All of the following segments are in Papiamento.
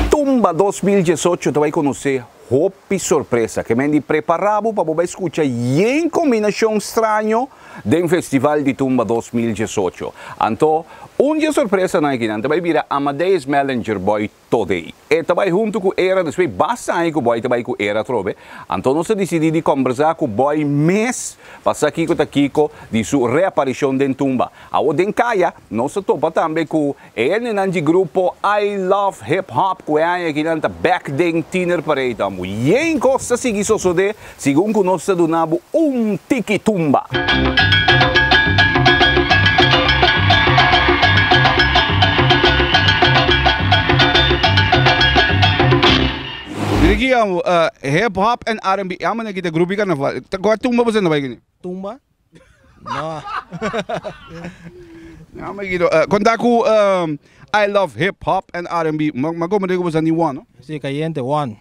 Tumba dos mil diesocho ta bai conoce hopi sorpresa. Ke mende prepara bo pa bo bai scucha yen combinacion straño den Festival di Tumba dos mil diesocho. Anto, un di e sorpresanan akinan ta bai bira Amadeus Mellinger Boy todei. E ta bai huntu ku Era, despues basta aña ku Boy ta bai ku Era atrobe, anto nos a disidí di kombersá ku Boy mes pa sa kiko ta kiko di su reaparishon den tumba. Awor den kaya nos a topa tambe ku e hendenan di grupo I Love Hip Hop ku e aña akinan ta bek den Tienerparade tambo. Yen kos ta sigui sosodé. Segun ku nos ta duna bo un tiki tumba. Ricky amo hip hop en R&B e amo na kita grupi karnaval kua tumba boso na bai kuni? Tumba? Konta ku I love hip hop en R&B ma komo rico boso a ni one no? Si cayente one.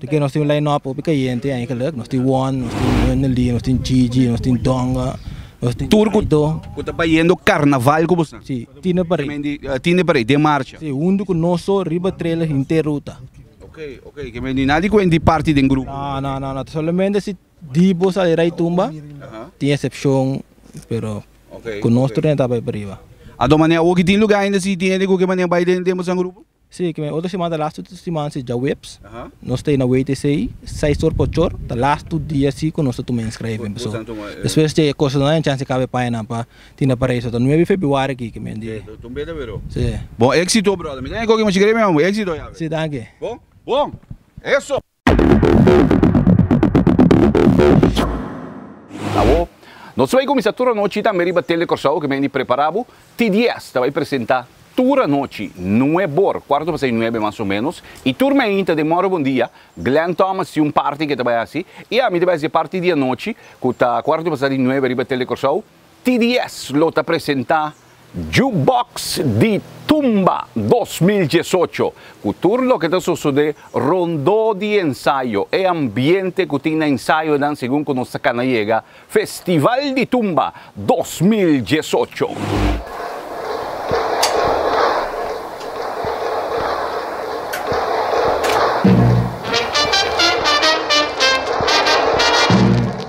Porque nos tin un line up hopi cayente aña calak, nos tin Juan, nos tin Wendely, nos tin Gigi, nos tin Donga, nos tin Tur cu cu ta bayendo carnaval cu boso nan. Si, tine parey. Kimen di tine parey den marcha. Si, hundu cu nos so riba trailer henter ruta. Okay, okay, kimen di nada di cu hende parti den grupo. No, no, no, no, ta solamente si di bo sali rai tumba, tin excepcion, pero Okay, cu nos tur nan e tabay pariba. Adomane awo ki tin lugar ainda si tin hende cu ke manera bay den den boso nan grupo? Sí, ke men otro siman ta lastu tu siman si djaweps, nos ta e na WTC, seis or pa ocho or, ta lastu dia si ku nos ta tuma inskreven paso despues dje e kosnan nan e chans di kaba e payanan pa tina pa reisa, ta nuebe febrüari ki ke men di. Sí. Bon éxito brother. Mi ta den koki muchi gremi man bo. Éxito yawe. Sí, danki. Bon. Bon. Eso. Awo nos ta bai kuminsá tur anochi tambe riba Tele Kòrsou ku mendi Prepara bo. Ti dies ta bai presentá tur anochi nueb'or, kuarto pasá i nuebe mas o ménos, i tur meinta den Mòrò Bondia, Glen Thomas tin un parti ku e ta bai hasi i ami ta bai hasi e parti di anochi ku ta kuarto pasá di nuebe riba Tele Kòrsou. TDS lo ta presenta Jukebox di Tumba dos mil diesocho, ku tur loke ta sosodé rondó di ensayo, e ambiente ku tin na ensayonan segun ku nos ta kana yega Festival di Tumba dos mil diesocho.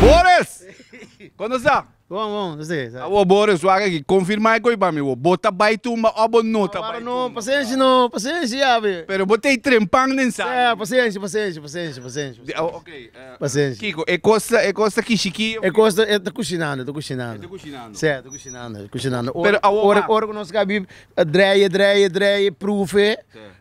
Boris! Kono sta? Bon, bon, no sé. Sa. Awor Boris, wak aki, confirma e coi pa mi, wor. Bo ta bai tumba o bo no ta bai Awor no, tumba? pasenshi no, pasenshi ya be. Pero bo tei trempan den sal. Sa, pasenshi, pasenshi, pasenshi, pasenshi. De- oh, okay, eh, Pasenshi. Kiko, e kos ta, e kos ta kishi ki of E ki? kos ta, e ta kushinando, e ta E kushinando. ta kushinando. Sa, e ta kushinando, e ta kushinando. Pero awor Ora, ma- ora ku nos ka bi, eh, dreie, dreie, dreie, proefe, Sa.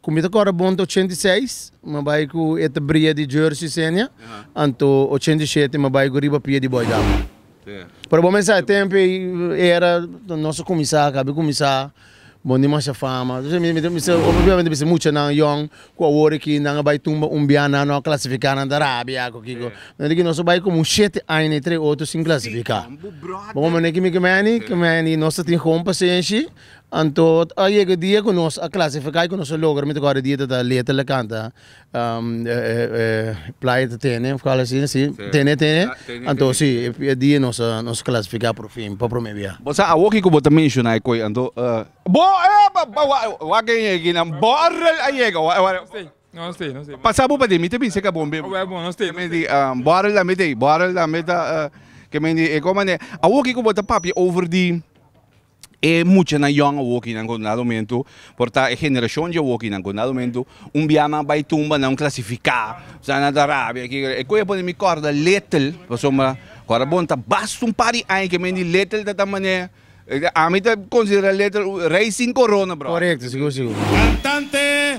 Ku mi ta kòrda bon ta ochenta i seis, mi bai ku e ta bria di jersey senia, anto ochenta i shete mi bai ku riba pia di bòi dama. Pero bo mester sa tempu ei era nos a kuminsá, kabi kuminsá, bon dimasha fama. Entonces mi ta bisa, obviamente bisa muchanan yòn ku awor aki nan a bai tumba un bia nan, nan a klasifiká nan ta rabia ku kiko. Manera ki nos a bai komo un shete aña i tres otro sin klasifiká. Bo manera ki mi ke Manny, ke Manny nos ta tin houn pasenshi. Anto a yega dia ku nos a klasifiká i ku nos a logra, mi ta kòrda e dia ta ta Letel a kanta Playa ta tene òf ku algo asina si, tene tene, anto si e dia nos a nos a klasifiká por fin pa promé biaha. Bo sa awoki ku bo ta menshoná e koi anto bo wak e ekinan bo a yega pasa bo paden mi ta bisa ka bo mei ke men di bo aral tambe ta ei bo aral tambe ta ke men di e koi manera awoki ku bo ta papia over di. E muchanan yòn awokinan ku na rumentu por ta e generashon dje awokinan ku na rumentu un biaha nan a bai tumba nan klasifiká sa nan ta rabia aki e ku a pone mi kòrda Letel pasobra kòrda bo nan ta basta un par di aña ke men di Letel ta ta manera ami ta konsiderá Letel rei sin korona bròder. Korekto sigur sigur. Kantante.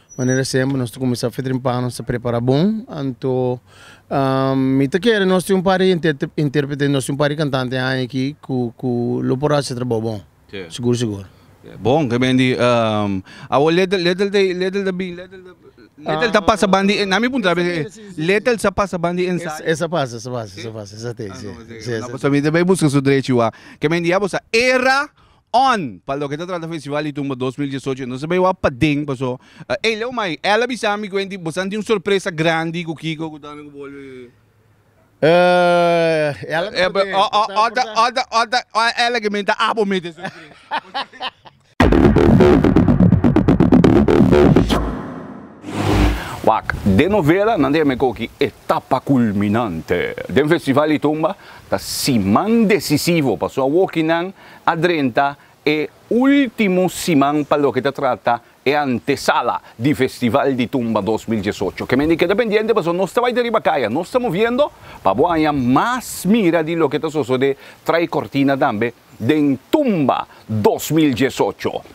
Manera semper nos ta cuminsa a fetrimpa, nos ta prepara bon, anto mi ta kere nos tin un par di interprete y nos tin un par di cantante aña aki cu lo por haci e trabao bon, sigur sigur. Bon, ke ben di, awor Letel, Letel te, Letel ta bin, Letel ta, Letel ta pasa ban di, na mi puntra bes e, Letel sa pasa ban di ensayo? E sa pasa, e sa pasa, e sa pasa, esate, si, si esate. Nos ta bin ta bay busca su drechi wak, ke ben di ya bo sa era. On. Pa loke ta trata festival di tumba dos mil diesocho entonces bay wak paden paso ey Leo mai el a bisa mi kuenti bosan tin un sorpresa grandi ku Kiko ku Donna ku bolbe ela ta poder ey bosan a porta ot ot ot ot ela ke meen ta abo mete sorpresa. Wak den novela nan ta yama e koki etapa kulminante den festival di tumba ta siman desisivo paso awoki nan a drenta e ultimo siman pa loke ta trata e antesala di Festival di Tumba dos mil diesocho. Kemendi keda pendiente pasobra nos ta bai ta riba kaya, nos ta moviendo pa bo haña mas mira di loke ta sosode trai kortina tambe den Tumba dos mil diesocho.